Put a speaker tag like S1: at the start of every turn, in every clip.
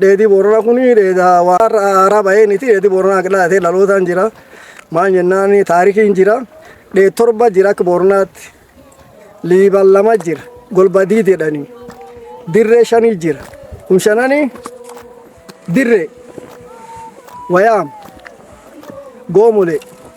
S1: Dheedii Booranaa kun dheedaa waan haaraa bahee niti dheedii Booranaa qindaa'atee dhalootaan jira. Maal jennaan taarikiin jira. Dheed torba jira akka Booranaatti. Liiban lama jira. Golbadii jedhanii. Dirree shanii jira. Kun shananii dirree wayaam goomolee.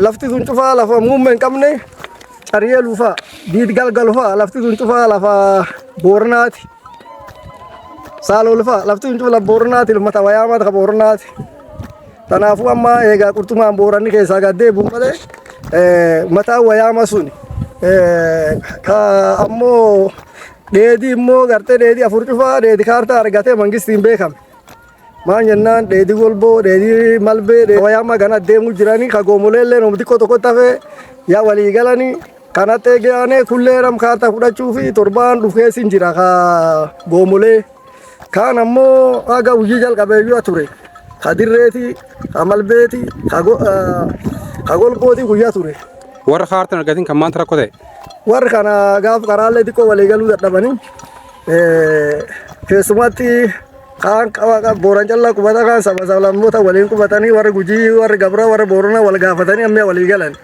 S1: Lafti sun cufaa lafa muummee hin qabne cariyee luufaa diid galgal faa lafti sun cufaa lafa boornaati. Saalol faa lafti sun cufaa lafa boornaati ilmata wayaa mata boornaati. Kanaafuu amma egaa qurxumaan booranni keessaa gad deebi'u malee mataa wayaama suni ammoo dheedii immoo gartee dheedii afur cufaa dheedii kaartaa argatee mangistiin beekame. Maan jennaan dheedii golboo, dheedii malbee, dheedii wayaa amma gana deemuu jiranii ka goomolee illee nuuf xiqqoo tokko tafe yaa walii galanii kana xeegee aanee kullee ram kaartaa fudhachuu fi torbaan dhufees hin jira ka goomolee. Kaan ammoo haga hojii jalqabeeyyuu ture. Ka dirreeti, ka malbeeti, ka go- ah, ka golbooti guyyaa ture. Warra kaartan argatin
S2: kan maanta rakkoo ta'e. Warri kana
S1: gaaf karaalee xiqqoo walii galuu dadhabanii eh, keessumatti kaan booran callaa qubata kaan saba sablammoota waliin qubatanii warri gujii warri gabra warri boorana wal gaafatanii ammee walii galan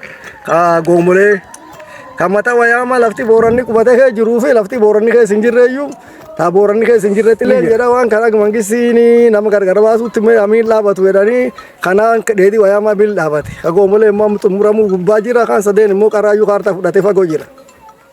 S1: kaa goomolee kan mata wayaama lafti booranni qubata kee jiruu fi lafti booranni keessa hin jirreeyyuu taa booranni keessa hin jirretti illee jedha waan kana mangissiin nama gargar baasutti mee amiin dhaabatu jedhanii kanaan dheedhii wayaama amiin dhaabate ka goomolee immoo xumuramuu gubbaa jira kaan sadeen immoo qaraayyuu kaartaa fudhatee fagoo jira.